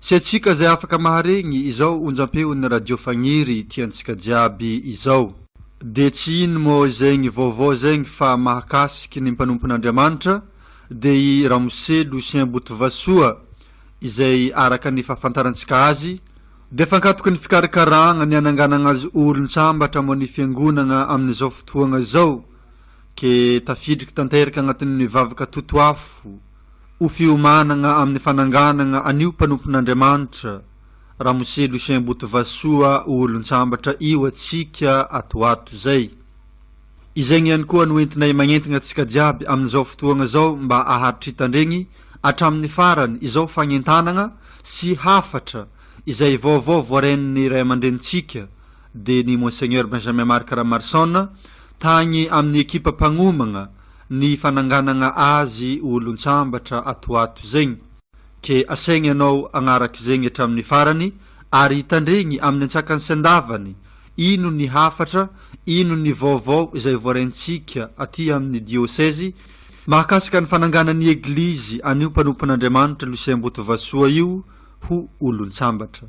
Tsy antsika izay afaka maharegny izao onjam-peon'ny Radio Fagniry tiantsika jiaby izao. Dia tsy ino moa izegny vaovao zegny fa mahakasiky ny mpanompon'Andriamanitra, dia i Ramose Lucien Botovasoa, izay araka ny fahafantarantsika azy, dia fankatoky ny fikarakaragna ny hananganagna azy olon-tsambatra moa ny fiangonagna amin'izao fotoagna izao, ke tafidriky tanteraka agnatin'ny vavaka totoafo, ho fiomanana amin'ny fananganana an'io mpanompon'Andriamanitra Ramose Lucien Botovasoa ho olon-tsambatra io antsika ato ato izay. Izegny ihany koa no entinay magnentagna antsika jiaby amin'izao fotoagna izao mba ahatritandregny hatramin'ny farany izao fagnentanagna sy hafatra izay vaovao voaren'ny ray aman-drenintsika dia ny Monseigneur Benjamin Marc Ramarson tagny amin'ny ekipa mpagnomagna ny fananganagna azy olon-tsambatra ato ato zegny. Ke asaigny anao agnaraka zegny hatramin'ny farany ary hitandregny amin'ny antsakany sendavany ino ny hafatra, ino ny vaovao izay voaraintsika aty amin'ny diosezy mahakasika ny fananganan'ny Eglizy an'io mpanompon'Andriamanitra Lucien Botovasoa io ho olon-tsambatra.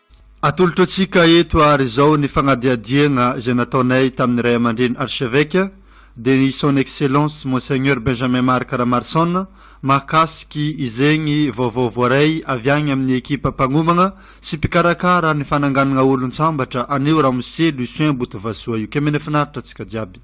Atolotro antsika eto ary izao ny fagnadihadiagna izay nataonay tamin'ny Ray aman-dReny Archevêque dia ny Son Excellence Monseigneur Benjamin Marc Ramarson mahakasiky izegny vaovao voaray avy agny amin'ny ekipa mpagnomagna sy mpikarakara ny fananganagna olon-tsambatra anio Ramose Lucien Botovasoa Io Kemene Finaritra antsika jiaby.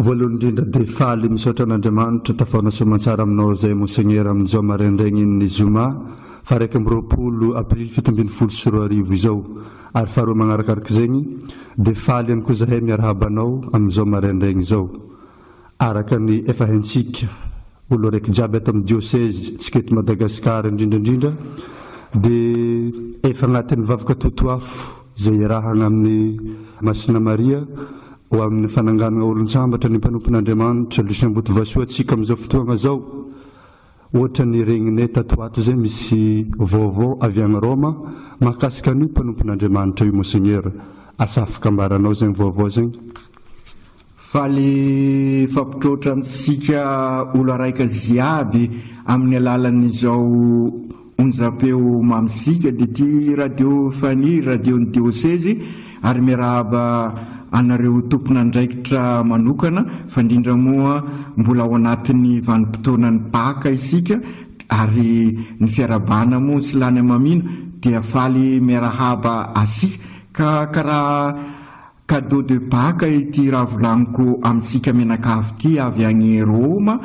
Voalohany indrindra dia faly misaotra an'Andriamanitra tafaona soamantsara aminao izay Monseigneur amin'ny izao maraindraigny in'ny zoma faha iraika amby roapolo aprily fito ambin'ny folo sy roa arivo izao ary faharoa magnarakaraka izegny dia faly ihany koa zahay miarahaba anao amin'izao maraindraigny izao araka ny efa haintsika olo araiky jiaby ato amin'ny diocèse tsika eto Madagascar indrindra indrindra dia efa agnatin'ny vavaka totoafo izay iarahana amin'i Masina Maria ho amin'ny fananganana olon-tsambatra ny mpanompon'Andriamanitra Lucien Botovasoa antsika amin'izao fotoagna izao, ohatra ny regninay tato ho ato izay misy vaovao avy agny Roma mahakasika an'io mpanompon'Andriamanitra io Monseigneur, asa afaka ambaranao zegny vaovao zegny? Faly hifampitroatra amintsika olo araika ziaby amin'ny alalan'izao onjam-peo mamizika dia ity radio Faniry, radion'ny diosezy ary miarahaba anareo tompon'andraikitra manokana fa indrindra moa mbola ao anatin'ny vanim-potoanan'ny baka isika ary ny fiarahabana moa tsy lany amamina dia faly miarahaba asika ka karaha Cadeau de Pâques ity ravilaniko amintsika mianakavy ity avy any Roma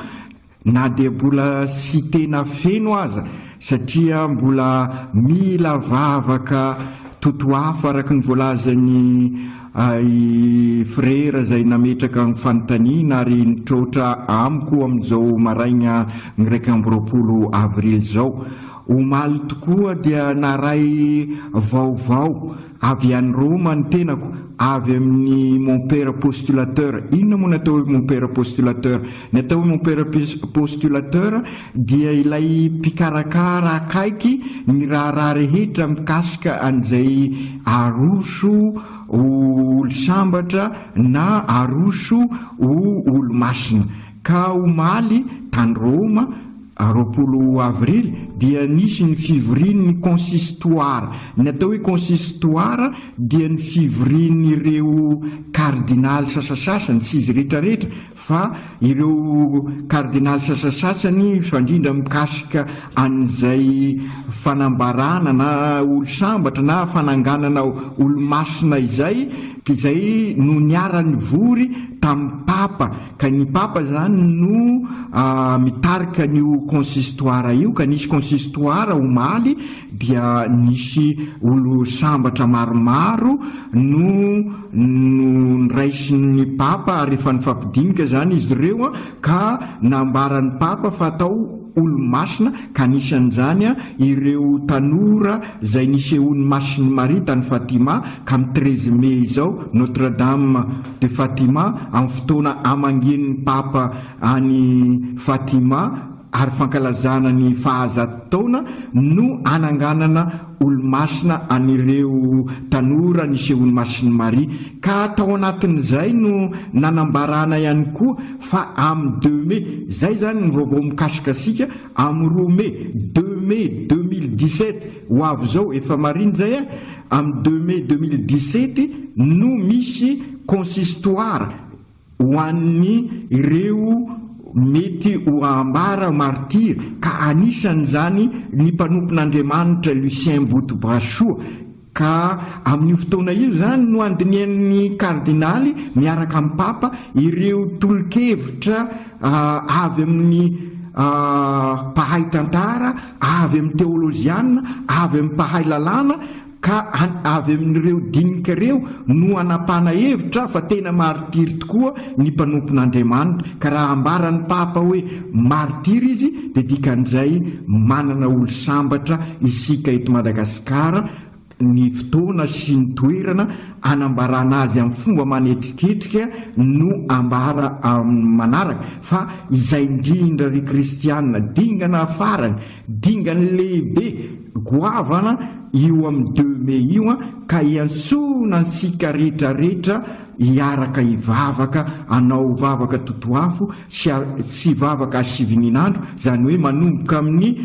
na dia mbola tsy tena feno aza satria mbola mila vavaka totoafo araka ny voalazan'i i Frera izay nametraka ny fanontaniana ary nitroatra amiko amin'izao maraina iraika amby roapolo avrily izao. Omaly tokoa dia naray vaovao. Avy any Roma ny tenako, avy amin'ny mon père postulateur. Inona moa ny atao hoe mon père postulateur? Ny atao hoe mon père postulateur dia ilay mpikarakara akaiky ny raharaha rehetra mikasika an'izay aroso ho olo-sambatra na aroso ho olo-masina. Ka omaly, tany Roma, A roapolo avrily dia nisy ny fivorian' ny konsistoara. Ny atao hoe konsistoara dia ny fivorian' ireo kardinaly sasasasany, tsy izy rehetrarehetra fa ireo kardinaly sasasasany, fa indrindra mikasika an' izay fanambarana na olo-sambatra na fananganana olo-masina izay, izay no niara-nivory tamin'ny papa. Ka ny papa zany no mitarika an'io consistoire io ka nisy consistoire omaly dia nisy olo sambatra maromaro no noraisin'ny papa ary efa nifampidinika zany izy ireo an ka nambaran'ny papa fa atao olo masina ka anisan'izany an ireo tanora zay nisehoan'ny masin'i Maria tany Fatima ka am treize mai izao Notre Dame de Fatima amin'ny fotoana hamangian'ny Papa an'i Fatima ary fankalazana ny fahazato taona no hananganana olomasina an'ireo tanora nisehoan'i Masin'i Maria ka tao anatin'izay no nanambarana ihany koa fa amin'ny deux mai, izay izany ny vaovao mikasikasika, amin'ny roa mai, deux mai deux mille dix-sept ho avy izao, efa marina izay eh? Amin'ny deux mai deux mille dix-sept no misy consistoire ho an'ny ireo mety ho ambara martyrs ka anisan'izany ny mpanompon'Andriamanitra Lucien Botobrasoa ka amin'io fotoana io izany no andinihan'ny kardinaly miaraka amin'ny papa ireo tolokevitra avy amin'ny mpahay tantara avy amin'ny teolojiana, avy amin'ny mpahay lalàna, ka avy amin'ireo dinika ireo no hanapahana hevitra fa tena maritiry tokoa ny mpanompon'Andriamanitra, ka raha ambaran'ny papa hoe maritiry izy dia dikan'izay manana olo-sambatra isika eto Madagasikara, Ny fotoana sy ny toerana hanambarana azy amin'ny fomba manetriketrika no ambara amin'ny manaraka, fa izay indrindra ry kristiana, dingana farany, dingany lehibe, goavana io amin'ny deux mai io an, ka iantsoana antsika retraretra hiaraka hivavaka hanao vavaka totoafo sy sy vavaka hasivinin'andro, izany hoe manomboka amin'ny.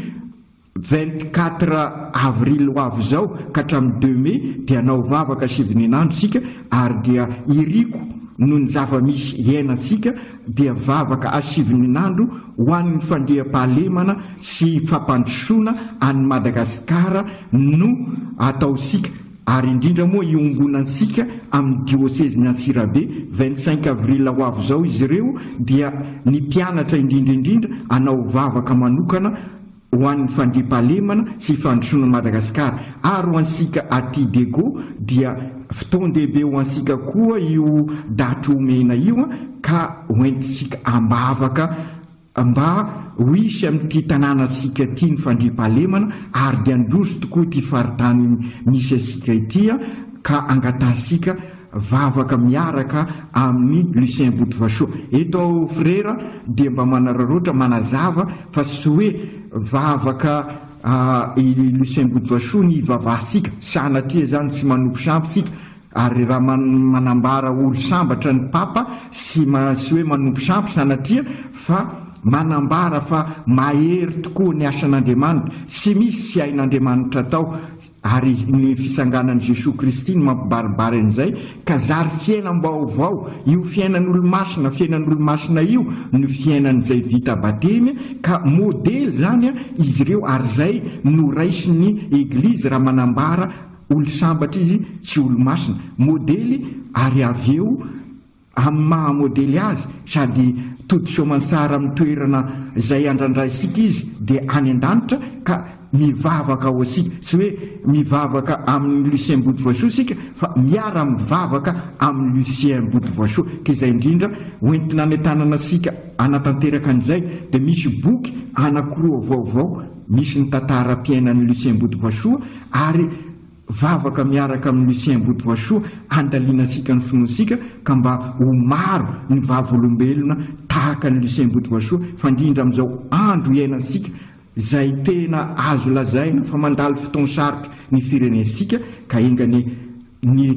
Vingt quatre avril ho avy izao ka hatramin'ny deux mai dia hanao vavaka sy vininandro isika ary dia iriko noho ny zava-misy iainantsika dia vavaka sy vininandro ho an'ny fandriampahalemana sy fampandrosoana an'i Madagasikara no ataontsika ary indrindra moa iongonantsika amin'ny diosezin'i Antsirabe vingt cinq avril ho avy izao izy ireo dia ny mpianatra indrindra indrindra hanao vavaka manokana ho an'ny fandriampahalemana sy fandrosoana an'i Madagasikara ary ho antsika aty Diego dia fotoan-dehibe ho antsika koa io daty omena io ka hoentintsika ambavaka mba ho hisy amin'ity tanànantsika ity ny fandriampahalemana ary dia handroso tokoa ity faritany misy antsika ity ka angatahintsika vavaka miaraka amin'i Lucien Botovasoa. Eto aho frera dia mba manararaotra manazava fa tsy hoe vavaka i Lucien Botovasoa ny ivavahasika, sanatria izany tsy manopy sampy isika ary raha manambara ory sambatra ny Papa tsy hoe manopy sampy sanatria fa manambara fa mahery tokoa ny asan'Andriamanitra, tsy misy tsy hain'Andriamanitra atao. Ary ny fisanganan'i Jesoa Kristy no mampibaribary an'izay, ka zary fiainam-baovao, io fiainan'Olomasina, fiainan'Olomasina io no fiainan'izay vita batemy, ka modely izany izy ireo, ary izay no raisin'ny Eglizy raha manambara olo-sambatra izy tsy olo-masina, modely, ary avy eo amin'ny maha modely azy sady tody soamantsara amin'ny toerana izay andrandraisika izy dia any an-danitra ka mivavaka ho asika, tsy hoe mivavaka amin'i Lucien Botovoisoa isika fa miara mivavaka amin'i Lucien Botovoisoa ka izay indrindra hoentina any an-tanana isika hanatanteraka an'izay dia misy boky anakiroa vaovao misy ny tantaram-piainan'i Lucien Botovoisoa ary Vavaka miaraka amin'i Lucien Botovasoa andalianantsika ny finoantsika ka mba ho maro ny vavolombelona tahaka an'i Lucien Botovasoa fandrindra amin'izao andro iainantsika izay tena azo lazaina fa mandalo fotoan-sarotra ny firenentsika ka enganie ny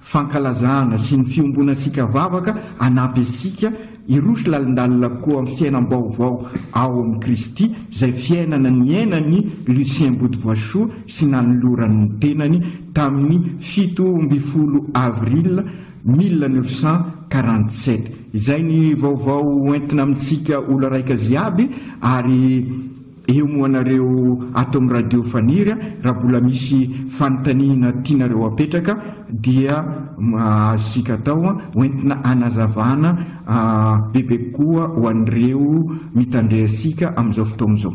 fankalazana sy ny fiombonantsika vavaka hanampy antsika hiroso lalindalina koa amin'ny fiainam-baovao ao amin'i Kristy, izay fiainana niainan'i Lucien Bodivoasoa sy nanolorany ny tenany tamin'ny fito ambin'ny folo avril mille neuf cent quarante-sept. Izay ny vaovao hoentina amintsika olo-raika ziaby ary. Eo moa nareo ato am radio faniry a, raha mbola misy fanontaniana tianareo apetraka dia azontsika atao a, hoentina hanazavana bebe kokoa ho an'ireo mitandre antsika amin'izao fotoagna izao.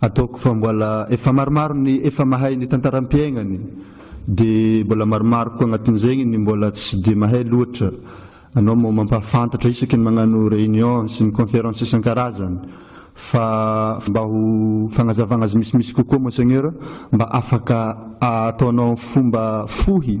Ataoko fa mbola efa maromaro ny efa mahay ny tantaram-piaignany dia mbola maromaro koa agnatin'izegny ny mbola tsy dia mahay loatra. Anao moa mampahafantatra isaky ny magnano réunion sy ny conférence isan-karazany fa mba ho fagnazavagna azy misimisy kokoa Monseigneur mba afaka ataonao fomba fohy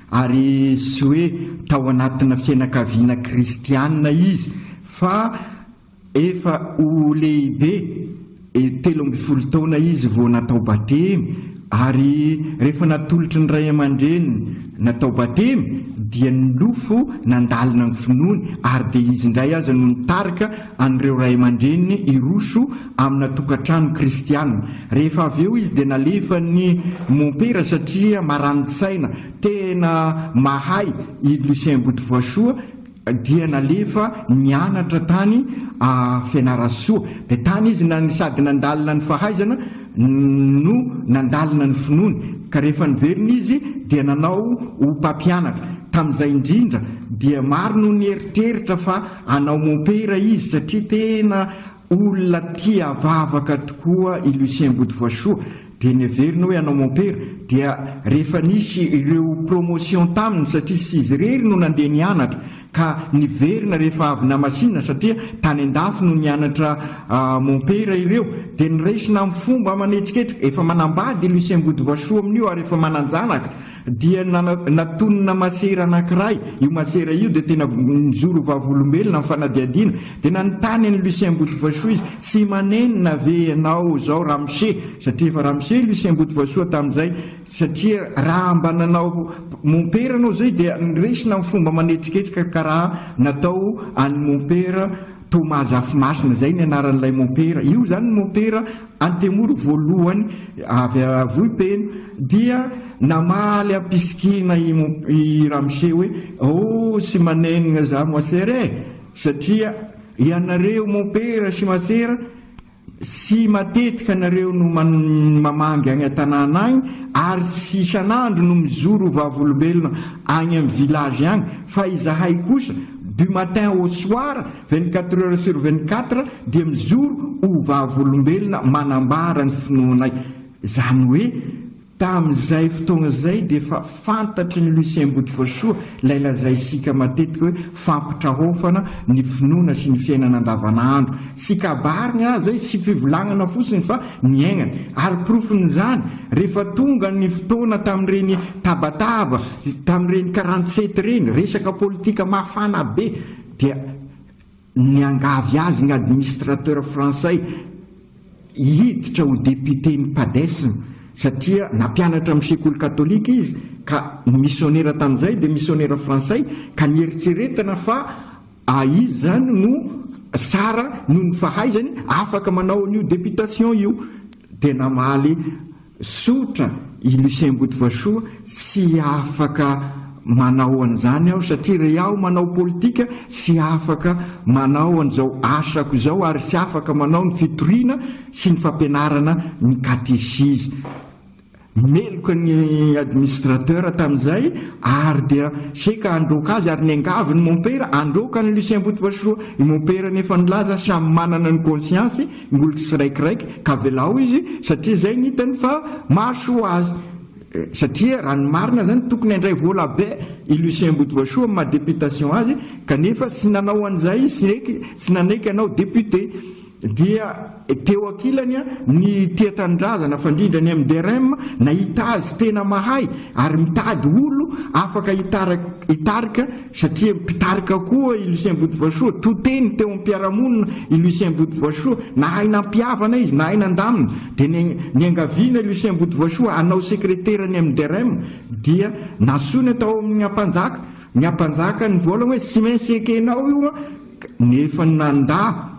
Ary tsy hoe tao anatina fianakaviana kristiana izy fa efa ho lehibe, telo ambin'ny folo taona izy vao natao batemy ary rehefa natolotry ny ray aman-dreniny natao batemy dia nilofo nandalina ny finoany ary dia izy indray aza no nitarika an'ireo ray aman-dreniny hiroso amina tokantrano kristiana. Rehefa avy eo izy dia nalefan'ny mompera satria marani-tsaina. Tena mahay i Lucien Botovoasoa dia nalefa nianatra tany Fianarantsoa. Dia tany izy na- sady nandalina ny fahaizana no nandalina ny finoany. Ka rehefa niverina izy dia nanao ho mpampianatra. Tamin'izay indrindra dia maro no nieritreritra fa hanao mompera izy satria tena Olona tia vavaka tokoa i Lucien Bodivoasoa dia neveriny hoe hanao mompera dia rehefa nisy ireo promotion taminy satria tsy izy irery no nandeha nianatra ka niverina rehefa avy namasinina satria tany an-dafy no nianatra mompera ireo dia niraisina amin'ny fomba aman'etriketrika. Efa manambady i Lucien Bodivoasoa amin'io ary efa manan-janaka. Dia natonina masera anankiray, io masera io dia tena nijoro ho vavolombelona amin'ny fanadihadiana, dia nanontany an'i Lucien Mbotovasoa izy, tsy manenina ve ianao izao ramose, satria efa ramose i Lucien Mbotovasoa tamin'izay, satria raha mba nanao mompera ianao izay dia noraisina amin'ny fomba manetriketrika karaha natao an'ny mompera, Toa Mahazafimasina izay ny anaran'ilay mompera. Io izany ny mompera antemoro voalohany avy Vohipeno dia namaly am-pisikiana i Ramose hoe oh sy manenina za moasera e! satria ianareo mompera sy masera sy matetika nareo no mamangy agny atanàna agny ary sy isan'andro no mizoro ho vavolombelona agny am village agny fa izahay kosa du matin au soir vingt quatre heures sur vingt quatre dia mizoro ho vavolombelona manambara ny finoanay zany hoe Tamin'izay fotoana izay dia efa fantatry ny Lucien Botovoasoa ilay lazaisika matetika hoe fampitrahofana ny finoana sy ny fiainana andavanandro. Tsy kabariny raha izay, tsy fivolagnana fotsiny fa niaignany. Ary porofon'izany, rehefa tonga ny fotoana tamin'ireny tabataba, tamin'ireny karantsety ireny, resaka politika mafana be dia. Niangavy azy ny administrateur frantsay hiditra ho député-n'ny Padesm satria nampianatra amin'ny sekoly katolika izy ka ny misionera tamin'izay dia misionera frantsay ka nieritreretina fa izy izany no tsara noho ny fahaizany afaka manao an'io députation io dia namaly Tsotra, i Lucien Botovasoa, tsy afaka manao an'izany aho satria re aho manao politika tsy afaka manao an'izao asako izao ary tsy afaka manao ny fitoriana sy ny fampianarana ny katesizy. Meloka ny administrateur tamin'izay ary dia seka handroaka azy ary niangavy ny mompera handroaka an'i Lucien Botovasoa. I mompera anefa nilaza samy manana ny conscience-y Ny olona tsiraikiraiky ka avelao izy satria zay ny hitany fa mahasoa azy satria raha ny marina zany tokony handray vola be i Lucien Botovasoa amin'ny maha députation azy kanefa tsy nanao an'izay izy sy eky tsy nanaiky hanao député dia teo ankilany ny tia tanindrazana fandrindra ny MDRM nahita azy tena mahay ary mitady olo afaka hitarika Satria mpitarika koa i Lucien Botovoasoa, to teny teo amin'ny mpiara-monina i Lucien Botovoasoa, nahay nampihavana izy, nahay nandamina. Dia ny niangaviana i Lucien Botovoasoa hanao sekretera ny MDRM dia nasonina tao amin'ny Ampanjaka. Ny Ampanjaka nivolagna hoe tsy maintsy ekenao io an, nefa nandà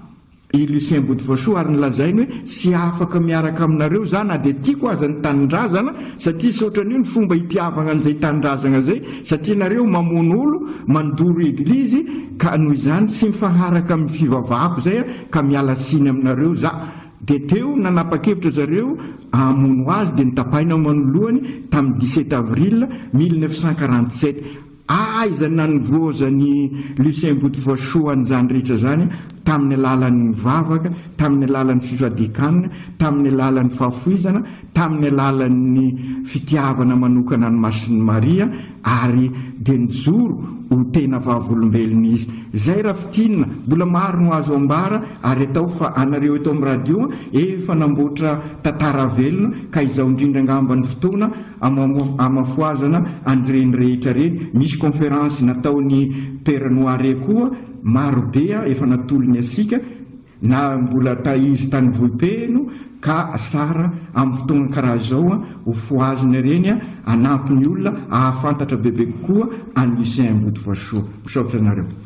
i Lucien Botovasoa ary nolazainy hoe tsy afaka miaraka aminareo za na dia tiako aza ny tanindrazana satria tsy ohatran'io ny fomba hitiavagna an'izay tanindrazagna zay satria nareo mamono olo, mandoro eglizy ka noho izany tsy mifaharaka amin'ny fivavahako zay ka miala tsiny aminareo za. Dia teo nanapa-kevitra zareo hamono azy dia notapahina manoloany tamin'ny dix-sept avril mille neuf cent quarante-sept. Aiza nanivoazan'i Lucien Botovoasoa an'izany rehetra izany tamin'ny alalan'ny vavaka, tamin'ny alalan'ny fifadian-kanina, tamin'ny alalan'ny fahafoizana, tamin'ny alalan'ny fitiavana manokana an'i Masin'i Maria ary dia nijoro ho tena vavolombelona izy. Izay raha fintinina, mbola maro no azo ambara ary atao fa anareo eto amin'ny radio efa namboatra tantara velona ka izao indrindra angamba ny fotoana amafoazana an'ireny rehetra ireny. Misy conférence nataon'i Père Noire koa marobe efa natolony asika na mbola ta izy tany Vohipeno ka sara amin'ny fotoana karaha izao ho fohazina ireny hanampy ny olona hahafantatra bebe kokoa an'i Lucien Ambodivoasoa. Misaotra anareo.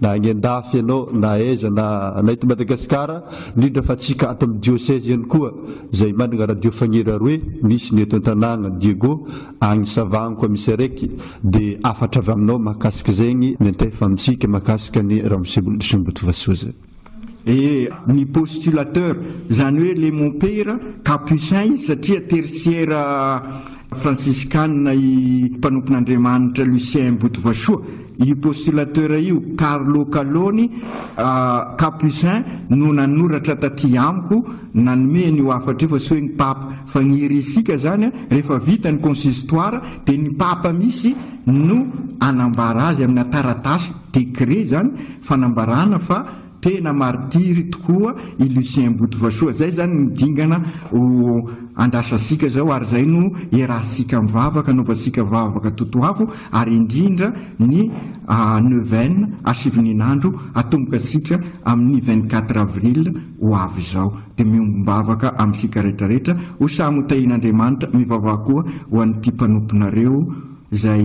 Na any an-dafy ianao na aiza na na eto Madagasikara, indrindra fa antsika ato amin'ny dioseze ihany koa izay manana radio Fagnera roe, misy ny eto an-tanàgna Diego, agny Savango koa misy araiky, dia hafatra avy aminao mahakasika zegny, miantefa amintsika mahakasika an'i Ramose Boldry sy Mobutu Vasoa zay. Ee, ny postulateur, izany hoe le mompera, Capucin izy satria tertiaire fransiskana i mpanompon'Andriamanitra Lucien Botovasoa. Io postulateur io, Carlo Caloni, Capucin, no nanoratra taty amiko, nanome an'io hafatra io fa tsy hoe ny Papa. Fa ny irisika izany, rehefa vita ny consistoire dia ny Papa misy no hanambara azy amina taratasy. Décret zany fanambarana fa tena martiry tokoa i Lucien Mbotovasoa. Zay zany no dingana ho andrasasika zao ary zay no iarahantsika mivavaka, anaovantsika vavaka totoafo ary indrindra ny neuvaine hasivinin'andro hatomboka antsika amin'ny vingt quatre avril ho avy izao. Dia miombom-bavaka amintsika retraretra ho samy ho tahian'Andriamanitra, mivavaha koa ho an'ity mpanomponareo zay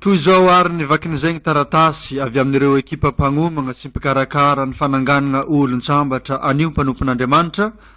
Toy izao ary ny vakin'izay ny taratasy avy amin'ireo ekipa mpagnomagna sy mpikarakara ny fananganana olon-tsambatra anio mpanompon'Andriamanitra,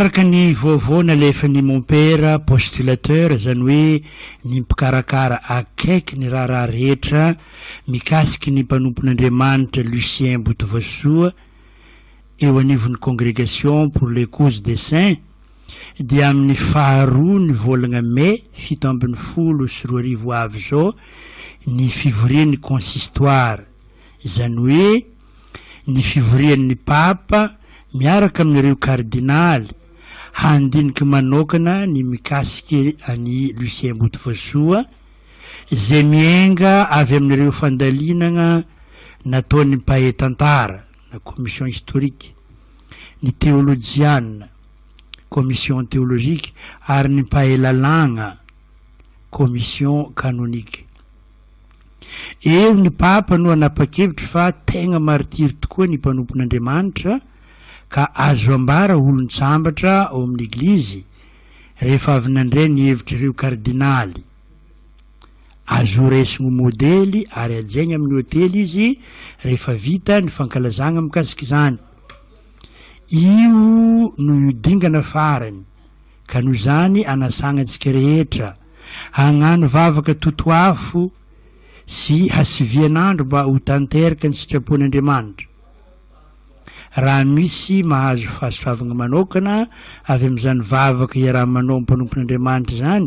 araka ny vaovao nalefan'ny mompera postulateur izany hoe ny mpikarakara akaiky ny raharaha rehetra mikasiky ny mpanompon'andriamanitra lucien botovasoa eo anivon'ny Congregation pour les Causes des Saints dia amin'ny faharoa ny volagna Mai fito ambin'ny folo sy roa arivo avy izao ny fivorian'ny Consistoire, izany hoe ny fivorian'ny Papa miaraka amin'ireo Kardinaly handiniky manokana ny mikasiky an'i Lucien Botovoasoa izay mienga avy amin'ireo fandalinagna nataon'ny mpahay tantara. na commission historique, ny teolojiana, commission théologique, ary ny mpahay lalàgna, commission canonique. Eo ny Papa no hanapa-kevitra fa tegna martiry tokoa ny mpanompon'Andriamanitra ka azo ambara olon-tsambatra ao amin'ny Eglizy rehefa avy nandray ny hevitr'ireo kardinaly. Azo raisina ho modely ary hajaina amin'ny hotely izy rehefa vita ny fankalazana mikasika izany. Io no io dingana farany ka noho izany anasana antsika rehetra hagnano vavaka totoafo sy hasivian'andro mba ho tanteraka ny sitrapon'Andriamanitra. Raha misy mahazo fahasoavana manokana avy amin'izany vavaka iaraha-manao amin'ny mpanompon'Andriamanitra izany,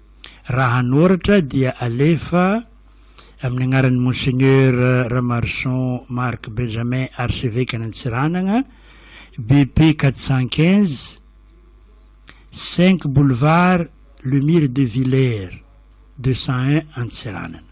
Raha hanoratra dia alefa amin'ny anaran'ny Monseigneur Ramaroson Marc Benjamin Arsevekan'Antsiranana, BP quatre cent quinze, cinq boulevard Lemire de Villers deux cent un Antsiranana.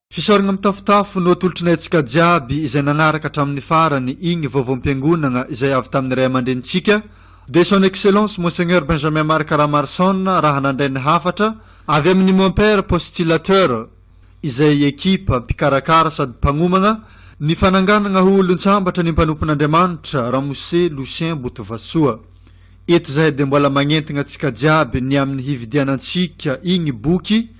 Fisaoragna mitafotafo no atolotrinay antsika jiaby izay nagnaraka hatramin'ny farany igny vaovaom-piangonagna izay avy tamin'ny Ray aman-drenintsika dia Son Excellence Monseigneur Benjamin Marc Ramarson raha nandray ny hafatra avy amin'ny Mon Père Postillateur izay ekipa mpikarakara sady mpagnomagna ny fananganagna ho olon-tsambatra ny mpanompon'Andriamanitra Ramose Lucien Botovasoa. Eto zahay dia mbola magnentagna antsika jiaby ny amin'ny hividianantsika igny boky